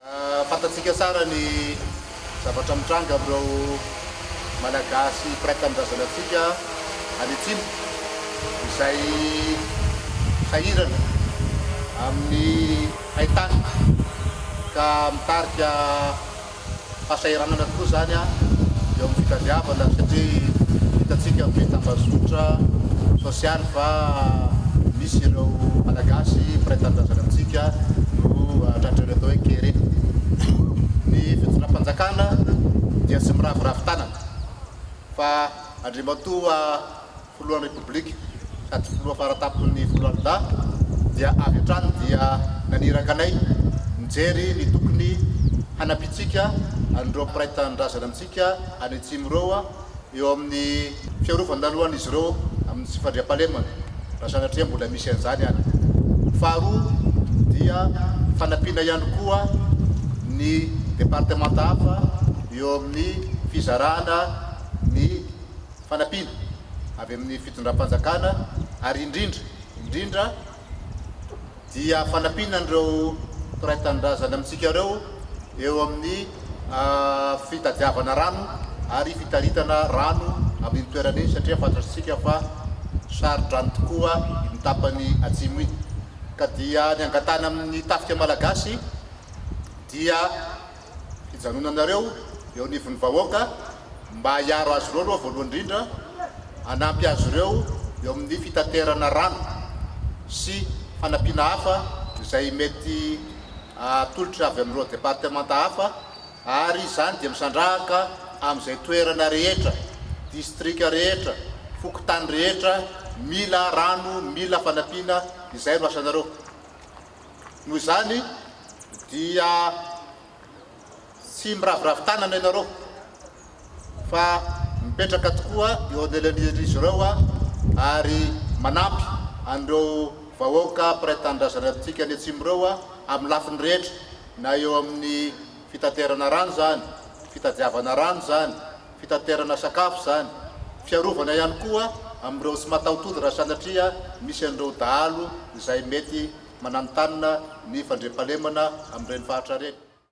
Fantatsika tsara ny zavatra mitranga amin'ireo Malagasy mpiray tanindrazana antsika any Atsimo, izay sahirana amin'ny hain-tany ka mitarika fahasahiranana tokoa izany eo amin'ny fitadiavana satria hitantsika amin'ny tambazotra Tsy hany fa misy ireo Malagasy mpiray tanindrazana amintsika no tratran'ny atao hoe kere. Ny fitondram-panjakana dia tsy miraviravy tanana fa Andriamatoa Filohan'ny Repoblika sady Filoha faratampon'ny Foloalindahy dia avy hatrany dia naniraka anay nijery ny tokony hanampiantsika an'ireo mpiray tanindrazana amintsika any Atsimo ireo eo amin'ny fiarovan-dalohan'izy ireo amin'ny tsy fandriampahalemana, raha sanatria mbola misy an'izany any. Faharoa dia fanampiana ihany koa ny departemanta hafa eo amin'ny fizarana ny fanampiana avy amin'ny fitondram-panjakana ary indrindra indrindra, dia fanampiana an'ireo mpiray tanindrazana amintsika ireo eo amin'ny fitadiavana rano ary fitaritana rano amin'iny toerana iny satria fantatsika fa saron-drano tokoa iny tapany atsimo iny ka dia ny angatahana amin'ny tafika malagasy dia fijanonanareo eo anivon'ny vahoaka mba hiaro azy ireo aloha voalohany indrindra, hanampy azy ireo eo amin'ny fitaterana rano sy fanampiana hafa izay mety atolotra avy amin'ireo departemanta hafa ary izany dia misandrahaka amin'izay toerana rehetra, distrika rehetra, fokontany rehetra mila rano, mila fanampiana, izay no asanareo. Noho izany dia tsy miraviravy tanana ianareo fa mipetraka tokoa eo anelan'izy ireo ary manampy an'ireo vahoaka mpiray tanindrazana antsika any Atsimo ireo amin'ny lafiny rehetra, na eo amin'ny fitaterana rano izany, fitadiavana rano izany, fitaterana sakafo izany, fiarovana ihany koa amin'ireo tsy mataho-tody raha sanatria misy an'ireo dahalo izay mety mananontanona ny fandriampahalemana amin'ireny faritra ireny.